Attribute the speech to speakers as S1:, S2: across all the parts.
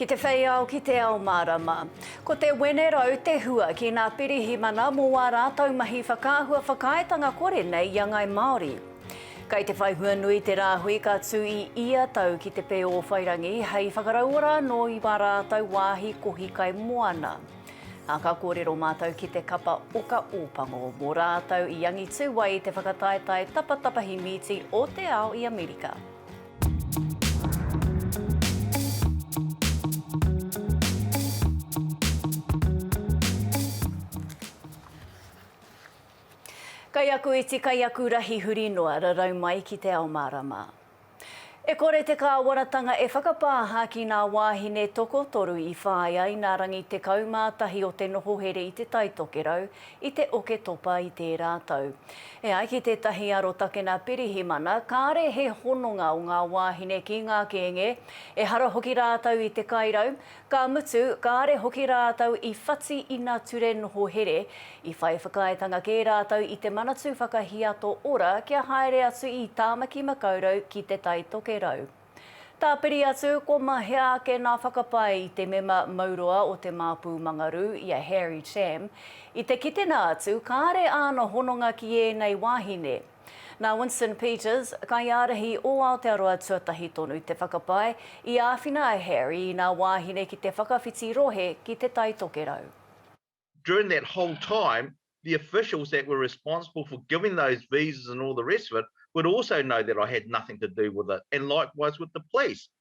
S1: Ki te whei ao, ki te ao mārama. Ko te Wenerau te hua ki nā Pirihimana mō wā rātau mahi whakaahua whakaaetanga kore nei i a Ngai Māori. Kei te whai hua nui te rāhui ka tū i ia tau ki te Pēōwhairangi hei whakarauora anō i wā rātau wāhi kohi kai moana. Ā, ka kōrero mātou ki te kapa Oka Ōpango, mō rātou i angitū ai i te whakataetae tapatapahi mīti o te ao i Amerika. Kaiakuiti, kaiakurahi huri noa, rarau mai ki te ao mārama. E kore te kāwanatanga e whakapāha ki ngā wāhine tokotoru i whāia i ngā rangi 11 o te noho here i Te Tai Tokerau i te Oketopa i tērā tau. E ai ki tētahi arotakena pirihimana, kāre he hononga o ngā wāhine ki ngā kēnge, ehara hoki rātou i te kairau, Ka mutu, kāre hoki rātou i whati ina ture noho here, i whai whakaaetanga kē rātou i te Manatū Whakahiato Ora kia haere atu i Tāmaki Makaurau ki Te Tai Tokerau. Tāpiri atu, ko mahea ake nā whakapae i te mema mauroa o Te Māpū Mangarū, i a Harry Cham, i te kitenga atu kāre āna hononga ki ēnei wāhine, Nā Winston Peters, kaiārahi o Aotearoa tuatahi tonu te whakapae i āwhina a Harry i nā wāhine ki te whakawhiti rohe ki Te Tai Tokerau. During
S2: that whole time, the officials that were responsible for giving those visas and all the rest of it would also know that I had nothing to do with it, and likewise with the police.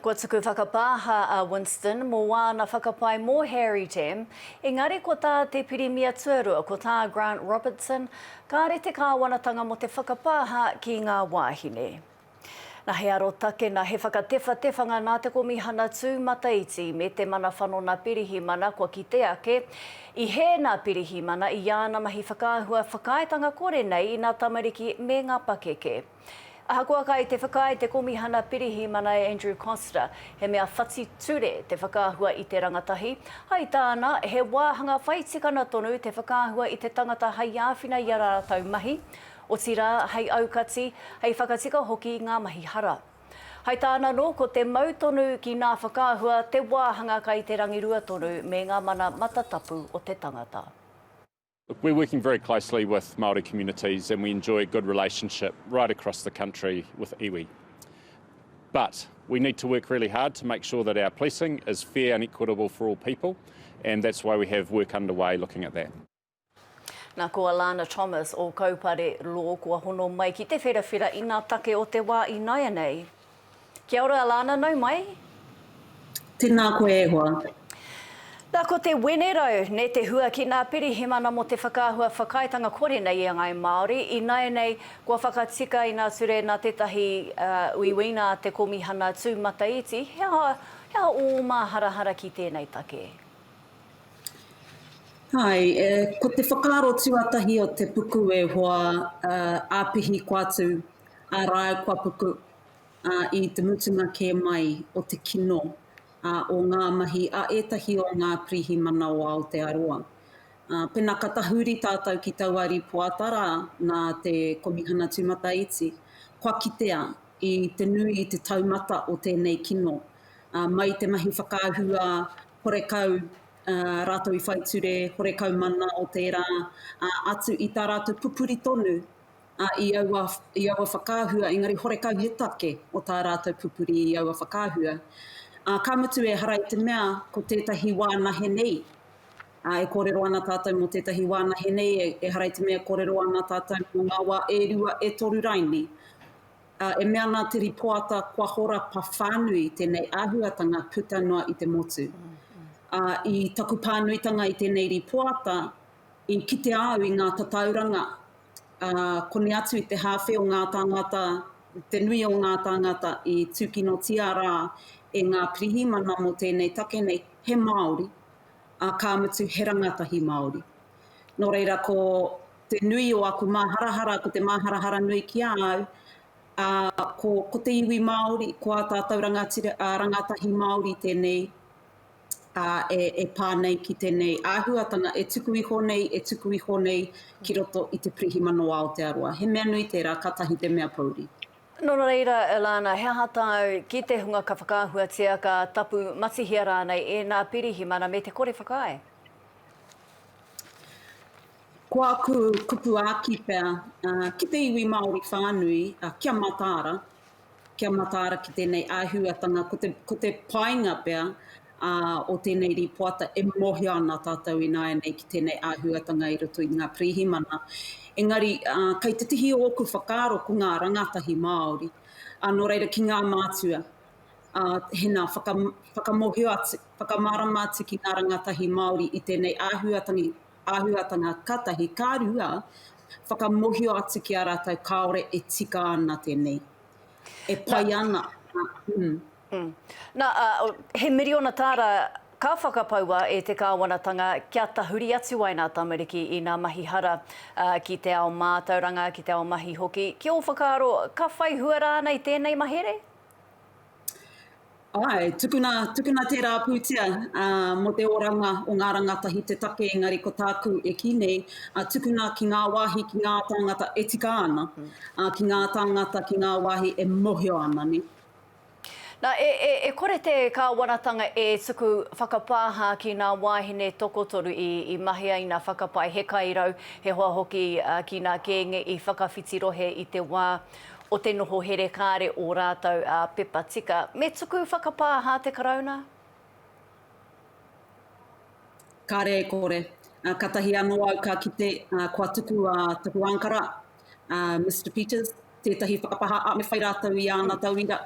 S1: Kua tuku whakapāha a Winston mō āna whakapae mō Harry Tam, engari ko tā te Pirimia Tuarua, ko tā Grant Robertson, kāore te kāwanatanga mō te whakapāha ki ngā wāhine. Na he arotake, na he whakatewhatewhanga nā te Komihana Tūmataiti me te Mana Whanona Pirihimana kua kite ake i hē nā Pirihimana i āna mahi whakaahua whakaaetanga kore nei i nā tamariki me ngā pakeke. Ahakoa kai te whakaae te Komihana Pirihimana e Andrew Coster, he mea whati ture te whakaahua i te rangatahi, hai tāna, he wāhanga whai tikana tonu te whakaahua i te tangata hai āwhina i a rātou mahi, otirā, hai aukati, hai whakatika hoki i ngā mahi hara. Hai tāna anō, ko te mau tonu ki nā whakaahua te wāhanga kai te rangirua tonu me ngā mana matatapu o te tangata. We're
S3: working very closely with Māori communities and we enjoy a good relationship right across the country with iwi. But we need to work really hard to make sure that our policing is fair and equitable for all people and that's why we have work underway looking at that. Na
S1: ko Alana Thomas o Kaupare Law kua hono mai ki te wherawhera i nga take o te wa i naianei. Kia ora Alana, nau mai.
S4: Tēnā koe e hoa. Na ko
S1: te wenerau ne te hua ki na Pirihimana mo te whakaahua whakaaetanga kore nei i a ngai Maori, inaenei kua whakatika ina ture na tetahi uiuina a te Komihana tu mataiti, he aha he aha o o maharahara ki tenei take?
S4: Hai, ko te whakaaro tuatahi o te puku e hoa, apihi ko atu. ā rāua kua puku i te mutunga kē mai o te kino o ngā mahi a ētahi o ngā pirihimana o Aotearoa. Pēnā ka tahuri tātou ki taua rīpoata rā nā te Komihana Tūmataiti, kua kitea i te nui i te taumata o tēnei kino. Mai i te mahi whakaahua horekau rātou i whaiture, horekau mana o tērā, atu i tā rātou pupuri tonu ā, i aua, i aua whakaahua, engari horekau he take o tā rātou pupuri i aua whakaahua. Ā, ka mutu ehara i te mea ko tētahi wā nahe nei, ā, e kōrero ana tātou mō tētahi wā nahe nei, e, ehara i te mea e kōrero ana tātou mō ngā wā e rua, e toru raini. Ā, e mea ana te rīpoata kua horapa whānui tēnei āhuatanga puta noa i te motu. Ā, i taku pānuitanga i tēnei rīpoata, i kitea au i ngā tatauranga koni atu i te hāwhe o ngā tāngata, te nui o ngā tāngata i tūkinotia rā e ngā pirihimana mō tēnei take nei, he Māori, ā, ka mutu he rangatahi Māori. Nō reira, ko te nui o aku māharahara, ko te māharahara nui ki a au, ā, ko, ko te iwi Māori, ko ā tātou rangatira, ā, rangatahi Māori tēnei, e pā nei ki tēnei āhuatanga e tuku iho nei, e tuku iho nei ki roto i te pirihimana o Aotearoa. He mea nui tērā, kātahi te mea pouri. Nō reira,
S1: Elana, he aha tāu ki te hunga ka whakaahuatia, ka tapu matihia rānei ēnā pirihimana me te kore whakaae?
S4: Ko aku kupu āki pea, ki te iwi Māori whānui, kia mataara, kia mataara ki tēnei āhuatanga, ko te, ko te painga pea ā, o tēnei rīpoata e mōhio ana tātou ināianei ki tēnei āhuatanga i roto i ngā pirihimana. Engari, ā, kei te tihi ōku whakaaro ko ngā rangatahi Māori, ā, nō reira ki ngā mātua, ā, he nā, whaka, whakamōhio atu, whakamārama atu ki ngā rangatahi Māori i tēnei āhuatanga, āhuatanga katahi ka rua, whakamohio atu ki a rātou kāore e tika ana tēnei, e pai ana.
S1: Nā, he miriona tāra ka whakapaua e te kāwanatanga kia tahuri atu ai ngā tamariki i ngā mahi hara ki te ao mātauranga, ki te ao mahi hoki. Ki ō whakaaro, ka whai hua rānei tēnei mahere?
S4: Ae, tukuna, tukuna tērā pūtea mō te oranga o ngā rangatahi te take engari ko tāku e kī nei, tukuna ki ngā wāhi, ki ngā tāngata e tika ana, ki ngā tāngata, ki ngā wāhi e mohio ana, ne. Na,
S1: e, e, e kore te Kāwanatanga e tuku whakapāha ki nā wāhine tokotoru i, i mahea ina whakapae he kairau, he hoa hoki ki nā kēnge i whakawhiti rohe i te wā. o te noho here kāre ō rātou pepa tika. Me tuku whakapāha te Karauna?
S4: Kāre e kore. Katahi anō au ka kite kua tuku a taku ānkara, a Mister Peters, tētahi whakapāha, ā, me whai rātou i āna tauira.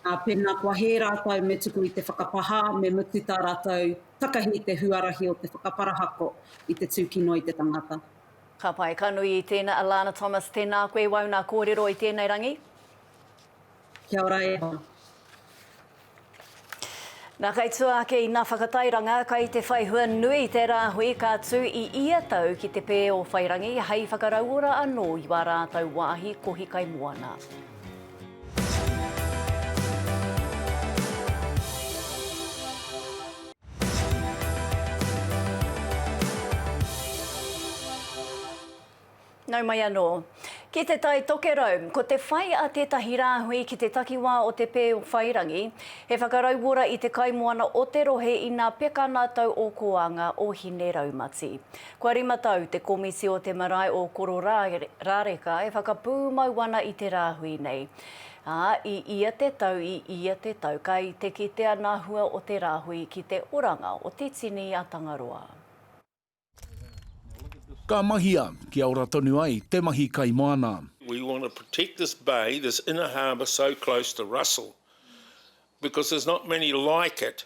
S4: Pēnā kua hē rātou me tuku i te whakapāha, me mutu tā rātou takahi te huarahi o te whakaparahako i te tūkino i te tangata. Ka pai, ka
S1: nui i tēnā. Alana Thomas, tēnā koe, wau nā kōrero i tēnei rangi.
S4: Kia ora e hoa.
S1: Nā kai tua ake i nā whakatairanga, kai te whai hua nui te rāhui ka tū i ia tau ki te pē o Whairangi hei whakarauora anō i wā rātau wāhi kohi kai moana. Nau mai anō. Ki te Tai Tokerau, ko te whai a tētahi rāhui ki te takiwā o Te Pēwhairangi, he whakarauora i te kaimoana o te rohe inā peka nā tau o Koanga o Hine Raumati. Kua rima tau te komiti o te marae o Kororāreka e whakapūmau ana i te rāhui nei. Ā, i ia te tau, i ia te tau, ka i te kitea ngā hua o te rāhui ki te oranga o te tini a Tangaroa.
S5: Ka mahia, kia ora tonu ai te mahi kaimoana. We want to protect
S6: this bay, this inner harbour so close to Russell because there's not many like it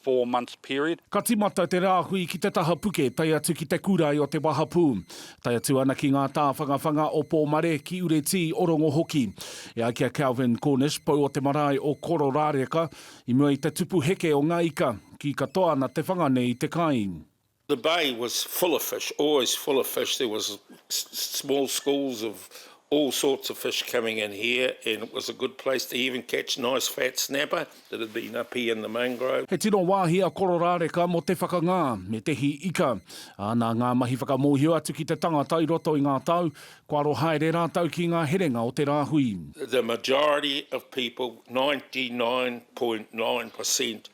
S7: four months period. Ka timata te rāhui
S5: ki te taha puke tae atu ki te kurae o te wahapū, tae atu ana ki ngā tāwhangawhanga o Pōmare, ki Uretī, o Rongo hoki. E ai ki a Calvin Cornish, pou o te marae o Kororāreka, i mua i te tupu heke o ngā ika, kī katoa ana te whanga nei i te kai. The bay
S6: was full of fish, always full of fish, there was small schools of all sorts of fish coming in here and it was a good place to even catch nice fat snapper that had been up here in the mangrove. He tino wāhi a
S5: Kororāreka mō te whakangā me te hī ika. Ā, nā ngā mahi whakamōhio atu ki te tangata i roto i ngā tau, kua aro haere rātou ki ngā herenga o te rāhui. The majority
S6: of people, 99.9 per cent,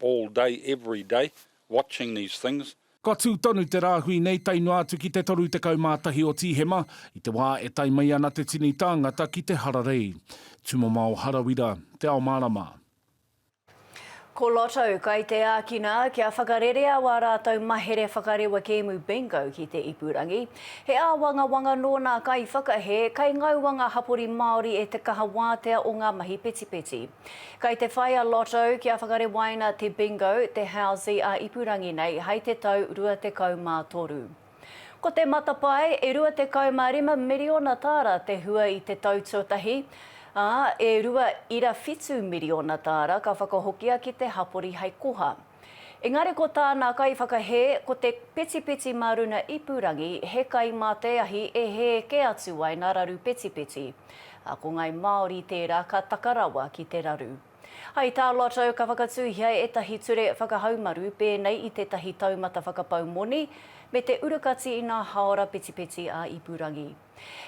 S7: all day every day watching these things. Ka tū tonu te
S5: rāhui nei tae noa atu ki te 31 o Tīhema, i te wā e tae mai ana te tini tāngata ki te hararei. Tumamao Harawira, Te Ao Mārama.
S1: Ko Lotto kai te ākina kia whakarerea wā rātou mahere whakarewa kēmu Bingo ki te ipurangi. He āwangawanga nō nā kaiwhakahē, kai ngaua ngā hapori Māori e te kaha wātea o ngā mahi petipeti. Kei te whai a Lotto kia whakarewaina te Bingo, te Hausi a ipurangi nei hai te tau 23. Ko te matapae, e 25 miriona tāra te hua i te tau tuatahi, ā, e rua ira whitu miriona tāra ka whakahokia ki te hapori hai koha. Engari ko tāna kaiwhakahē, ko te petipeti mā runa ipurangi, he kai mā te ahi e hē kē atu ai nā raru petipeti. Ā, ko ngāi Māori tērā ka taka rawa ki te raru. Hai tā Lotto ka whakatūhia ētahi ture whakahaumaru pēnei i tētahi taumata whakapau moni, me te urukati i nā hāora petipeti ā-ipurangi.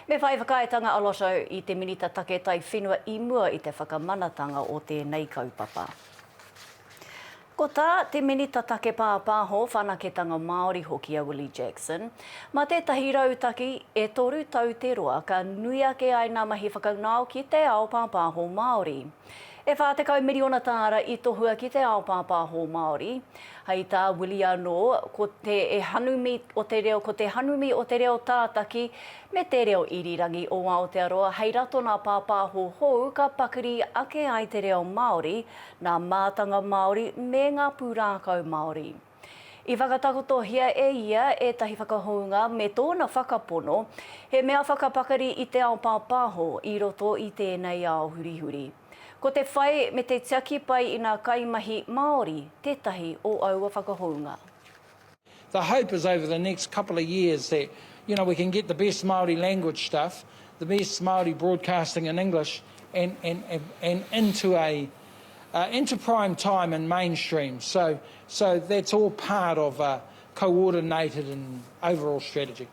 S1: Me whai whakaaetanga a Lotto i te Minita Take Taiwhenua i mua i te whakamanatanga o tēnei kaupapa. Ko tā te Minita Take Pāpāho, Whanaketanga Māori hoki a Willie Jackson, mā tētahi rautaki e toru tau te roa ka nui ake ai ngā mahi whakaūnao ki te ao pāpāho Māori. E whā tekau miriona tāra i tohua ki te ao pāpāho Māori. Hei tā Willie anō, ko te hanumi o te reo, ko te hanumi o te reo tātaki me te reo irirangi o Aotearoa hei ratonā pāpāho hou ka pakiri ake ai te reo Māori, nā mātanga Māori me ngā pūrākau Māori. I whakatakotohia e ia ētahi whakahounga me tōna whakapono, he mea whakapakari i te ao pāpāho i roto i tēnei ao hurihuri. Ko te whai me te tiaki pai i ngā kaimahi Māori tētahi o aua whakahounga. The
S8: hope is over the next couple of years that you know we can get the best Māori language stuff, the best Māori broadcasting in English and and and into a into prime time and mainstream, so so that's all part of a coordinated and overall strategy.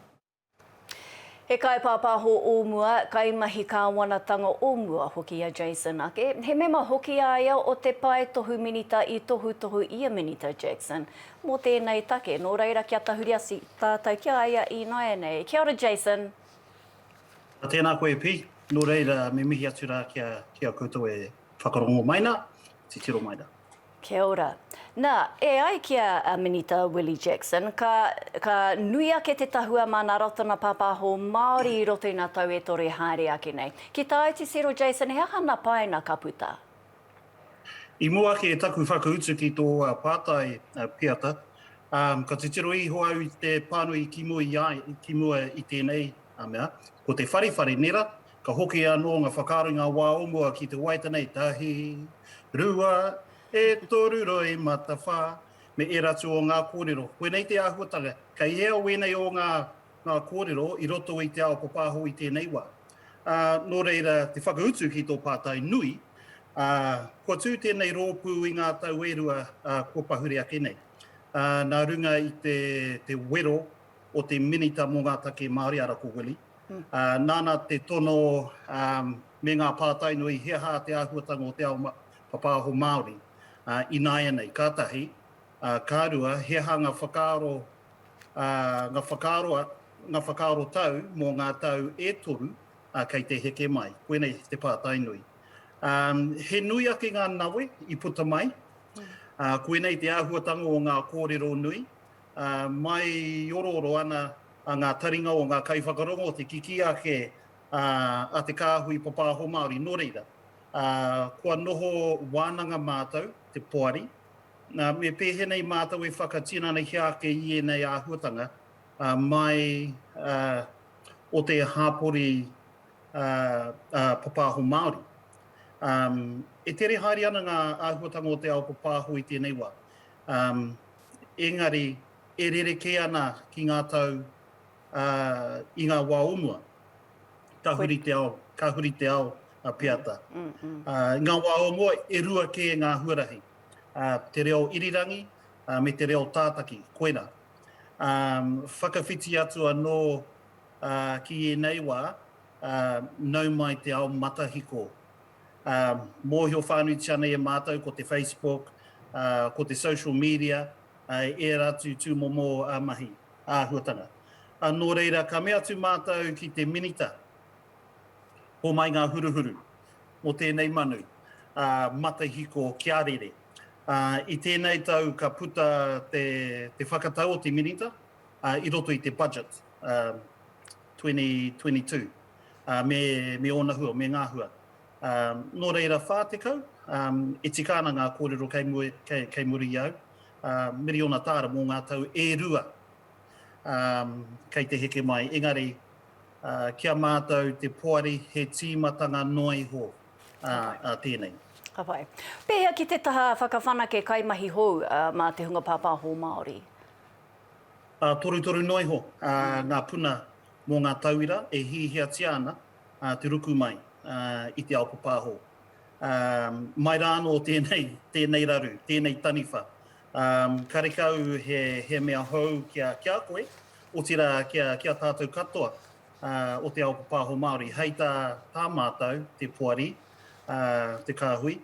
S1: He kaipāpāho o mua, kaimahi kāwanatanga o mua hoki a Jason ake. He mema hoki a ia o te pae tohu minita i tohutohu i a Minita Jackson mō tēnei take. Nō reira kia tahuri atu tātou ki a ia ināianei. Kia ora Jason!
S9: Tēnā koe Pete, nō reira me mihi atu rā ki a koutou e. Whakarongo mai na, titiro mai ra. Kia ora.
S1: Na, e ai ki a Minita Willie Jackson, ka, ka nui ake te tahua ma na Ratana Papaho Maori i roto i na tau e toru e haere ake nei. Ki ta au titiro Jason, he aha na painga ka puta?
S9: I mua ake e taku whakautu ki to pātai piata, um, ka titiro iho au i te pānui i ki mua i a, ki mua i tenei mea, ko te wharewhare, nē ra? Ka hoki anō ngā whakaaro i ngā wā o mua ki te wai tenei, tahi, rua, e toru roi mata whā, me ērā atu o ngā kōrero. Koinei te āhuatanga, kei hea wēnei o ngā ngā kōrero i roto i te ao papāho i tēnei wā. Ā, nō reira, te whakautu ki tō pātai nui, ā, kua tū tēnei rōpū i ngā tau e rua, ā, kua pahure ake nei. Ā, nā runga i te, te wero o te Minita mō ngā Take Māori, arā ko Willie, Nāna te tono me ngā pātai nui he aha te āhuatanga o te ao papāho Māori ināianei, ka tahi, ka rua, he aha ngā whakaaro, ngā whakaaro, ngā whakaaro tau mō ngā tau e toru kei te heke mai. Koinei te pātai nui. He nui ake ngā nawe i puta mai, koinei te āhuatanga o ngā kōrero nui, mai i orooro ana ngā taringa o ngā kaiwhakarongo, te kikī ake a te kāhui papāho Māori. Nō reira, kua noho wānanga mātou, te poari, me pēhena i mātou e whakatinanahia ake i ēnei āhuatanga mai o te hāpori papāho Māori. E tere haere ana ngā āhuatanga o te ao papāho i tēnei wā. engari e rerekē ana ki ngā tau i ngā wā o mua. Ka huri te ao, ka huri te ao a Peata. I ngā wā o mua e rua kē ngā huarahi, te reo irirangi me te reo tātaki, koirā. Whakawhiti atu anō ki ēnei wā, nau mai te ao matahiko mōhio whānuitia nei e mātou ko te Facebook, ko te social media, ērā atu tūmomo mahi āhuatanga. Nō reira, ka mea atu mātou ki te Minita, homai ngā huruhuru mō tēnei manu matihiko kia rere. I tēnei tau ka puta te whakatau o te Minita i roto i te Budget 2022. ā, me, me ōna hua, me ngā hua. Ā, nō reira, 40, ā, e tika ana ngā kōrero kei mua, kei, kei muri i au, ā, miriona tāra mō ngā tau e rua, ā, kei te heke mai. Engari, ā, ki a mātou te poari, he tīmatanga noa iho, ā, ā tēnei. Ka pai.
S1: Pēhea ki te taha whakawhanake kaimahi hou, ā, mā te hunga pāpāho Māori?
S9: Ā, torutoru noa iho, ā, ngā puna mō ngā tauira e hiahiatia ana te ruku mai i te ao papahō. Mai rā anō tēnei, tēnei raru, tēnei taniwha, karekau he, he mea hou ki a, ki a koe, otirā ki a, ki a tātou katoa o te ao papahō Māori. Hei tā, tā mātou, te poari, te kāhui,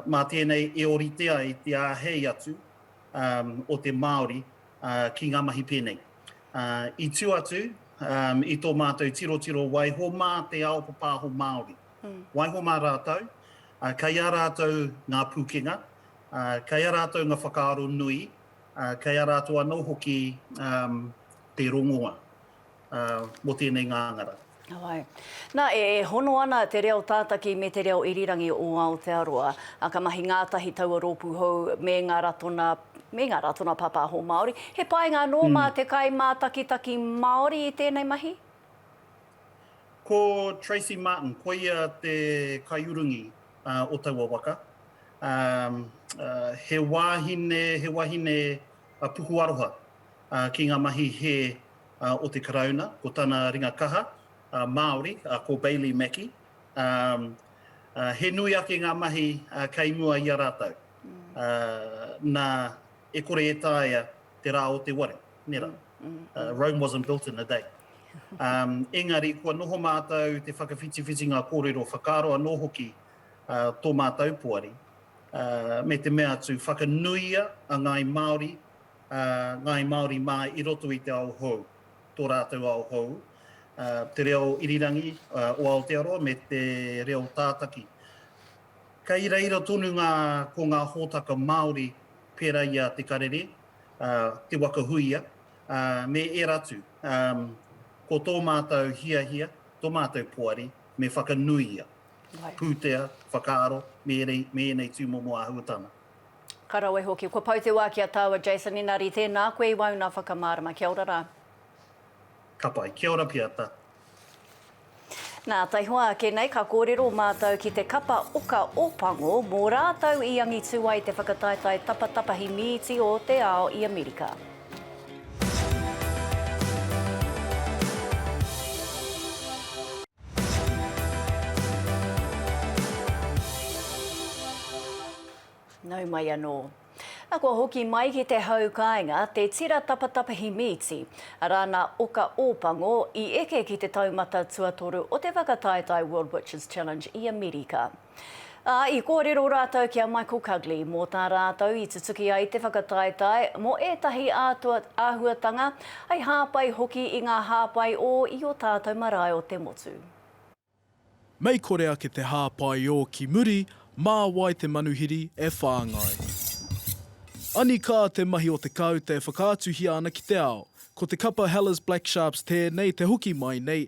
S9: mā tēnei e orite ai te āhei atu o te Māori ki ngā mahi pēnei. I tū atu i tō mātou tirotiro waiho mā te ao papāho Māori. Waiho mā rātou, kei a rātou ngā pūkenga, kei a rātou ngā whakaaro nui, kei a rātou anō hoki te rongoa. mō tēnei ngāngara. Heoi.
S1: Nā, e hono ana te reo tātaki me te reo irirangi o Aotearoa. Ā, ka mahi ngātahi taua rōpū hou me ngā ratonga, me ngā ratonga pāpāho Māori. He painga anō mā te kaimātakitaki Māori i tēnei mahi? Ko
S9: Tracey Martin, ko ia te kaiurungi o taua waka. He wāhine, he wahine puku aroha ki ngā mahi hē o te Karauna, ko tana ringa kaha Māori, ko Bailey Mackie. He nui ake ngā mahi kei mua i a rātou, nā, e kore e taea te rā o te wari, nē rā. Rome wasn't built in a day. Engari, kua noho mātou te whakawhitiwhiti ngā kōrero whakaaro anō hoki tō mātou poari, me te mea atu, whakanuia a Ngāi Māori Ngāi Māori mā i roto i te ao hou, tō rātou ao hou, te reo irirangi o Aotearoa me te reo tātaki. Kei reira tonu ngā, ko ngā hōtaka Māori pērā i a Te Karere, Te Waka Huia, me ērā atu. Ko tō mātou hiahia, tō mātou poari, me whakanuia, pūtea, whakaaro me ēnei tūmomo āhuatanga. Ka rawe
S1: hoki. Kua pau te wā ki a tāu a Jason Inari, tēnā koe i wauna whakamārama. Kia ora rā. Ka
S9: pai. Kia ora pia ta.
S1: Nā, taihoa ake nei ka kōrero mātou ki te kapa oka o Pango mō rātou i angitu ai te whakataetae tapatapahi mīti o te ao i Amerika. Nau mai anō. Na, kua hoki mai ki te hau kāinga te tira tapatapahi mīti, arā nā Oka Ōpango i eke ki te taumata tuatoru o te whakataetae World Witches Challenge i Amerika. Ā, i kōrero rātou ki a Michael Cugley mō tā rātou i tutuki ai te whakataetae mō ētahi ātua āhuatanga, hei hāpai hoki i ngā hāpai ō i ō tātou marae o te motu. Mei
S10: kore ake te hāpai ō ki muri, mā wai te manuhiri e whāngai. Anikā te mahi o te kāute e whakaatuhia ana ki te ao. Ko te kapa Hellas Black Sharps tēnei te hoki mai nei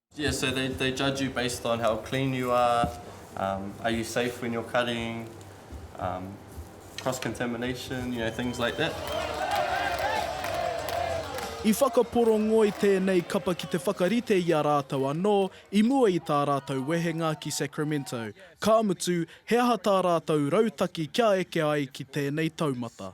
S11: Yeah, so they,
S12: they judge you based on how clean you are, um, are you safe when you're cutting, um, cross-contamination, you know, things like that.
S10: I whakaporongoi tēnei kapa ki te whakarite i a rātou anō i mua i tā rātou wehenga ki Sacramento. Ka mutu, he aha tā rātou rautaki kia eke ai ki tēnei taumata?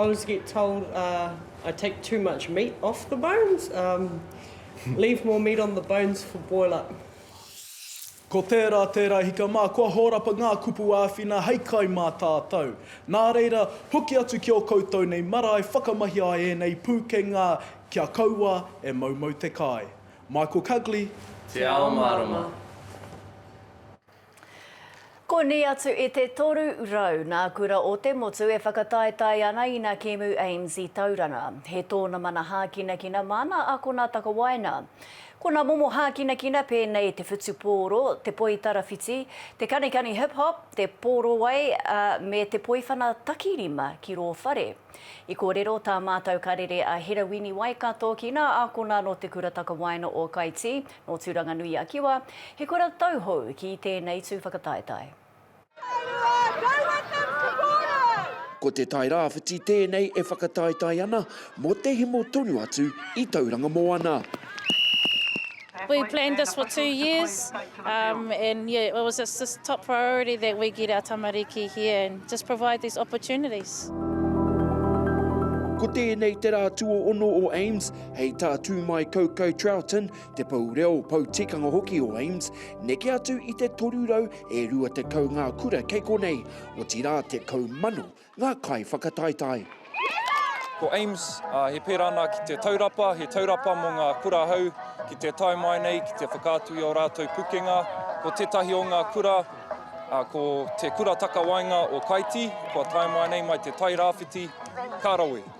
S12: I always get
S11: told uh, I take too much meat off the bones, um, leave more meat on the bones for boil up.
S10: Ko tērā tērā hika mā, kua hōrapa ngā kupu āwhina hei kai mā tātou. Nā reira, hoki atu ki ō koutou nei marae, whakamahia ai ēnei pūkenga kia kaua e moumou te kai. Michael Cugley. Te Ao
S12: Mārama.
S1: Konei atu i te toru rau nā Kura o te Motu e whakataetae ana ina kēmu AIMS i Tauranga. He tōna mana hākinakina māna akona takawaenga. Ko nā momo hākinakina pēnei te whutupōro, te poi tarawhiti, te kanikani hip hop, te pōrowai a me te poiwhana takirima ki rō whare. I kōrero tā mātau karere a Hera Wini Waikato ki nā akona nō te Kura Takawaenga o Kaitī, Nō Tūranganui-a-Kiwa, he kura tauhou ki tēnei tū whakataetae.
S13: Ko Te Tai Rāwhiti tēnei e whakataetae ana mō te hemo tonu atu i Tauranga Moana.
S14: We planned this for two years and yeah it was just this top priority that we get our tamariki here and just provide these opportunities.
S13: Ko tēnei te rā tuohono o AIMS. Hei tā Tūmaikaukau Troughton, te pou reo, pou tikanga hoki o AIMS, neke atu i te 300 e 20 ngā kura kei konei, otirā 10,000 ngā kaiwhakataetae.
S15: Ko AIMS, he pērā ana ki te taurapa, he taurapa mō ngā kura hou ki te tae mai nei ki te whakaatu i ō rātou pukenga. Ko tētahi o ngā kura, ko te Kura Takawaenga o Kaiti, kua tae mai nei mai te Tai Rāwhiti, ka rawe.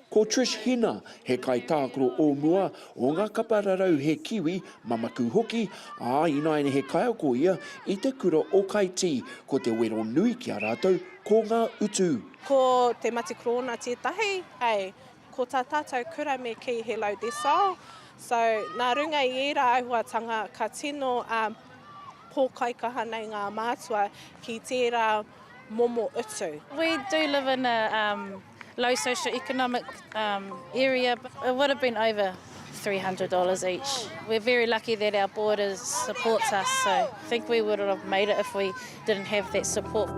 S14: Ko Trish Hina,
S13: he kaitākaro o mua, o ngā kapa rarau he Kiwi, mamaku hoki, ā, ināiane he kaiako ia i te kura o Kaitī, ko te wero nui ki a rātou ko ngā utu. Ko Te
S16: Matikorōna tētahi, hei, ko tā tātou kura me kī he load their soul. So, nā runga i ērā āhuatanga ka tino pōkaikaha nei ngā mātua ki tērā momo utu. We do live in
S14: a low socio-economic um, area, it would have been over $300 each. We're very lucky that our board is, supports us, so I think we would have made it if we didn't have that support.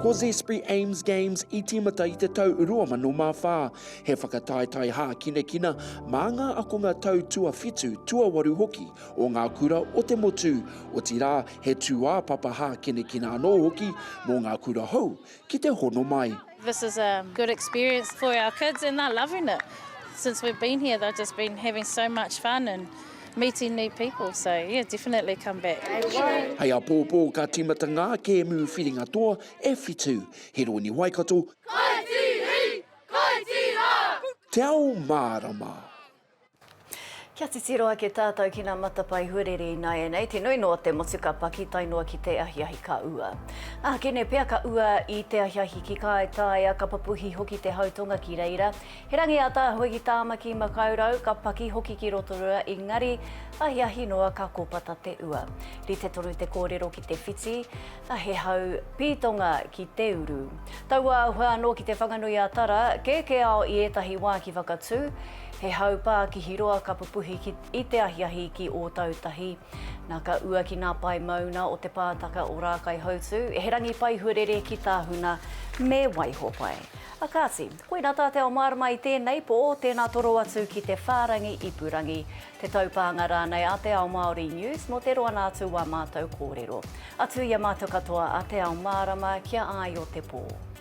S13: Ko Zespri Ames Games i tīmata i te tau 2004. He whakataetae hākinakina mā ngā akonga tau tuawhitu, tuawaru hoki o ngā kura o te motu, otirā he tūāpapa hākinakina anō hoki mō ngā kura hou ki te hono mai. This is a
S14: good experience for our kids and they're loving it. Since we've been here they've just been having so much fun and meeting new people so yeah definitely come back. Hei apōpō
S13: ka tīmata ngā kēmu whiringa toa e whitu, Hiroini Waikato, Kai Tīhi! Kai Tīha! Te Ao Mārama!
S1: Kia titiro ake tātou ki ngā matapae huarere ināianei, te nui noa te motu ka paki tae noa ki te ahiahi ka ua. Ā, ki nei pea ka ua i te ahiahi ki Kāetaia, ka papuhi hoki te hau tonga ki reira. He rangi ātaahua ki Tāmaki Makaurau, ka paki hoki ki Rotorua, engari, ahiahi noa ka kōpata te ua. Rite tonu te kōrero ki te whiti, ā, he hau pītonga ki te uru. Tauāhua anō ki Te Whanganui-a-Tara, kēkēao i ētahi wā ki Whakatū, He hau pā ki Hiroa ka pupuhi ki i te ahiahi ki Ōtautahi. Na ka ua ki nā pae mauna o Te Pātaka o Rākaihautū, he rangi pai huarere ki Tāhuna me Waihopai. A kāti, koina tā te ao mārama i tēnei pō, tēnā toro atu ki te whārangi ipurangi, te taupānga rānei a Te Ao Māori News mō te roanga atu o ā mātou kōrero. Atu i a mātou katoa a Te Ao Mārama kia āio te pō.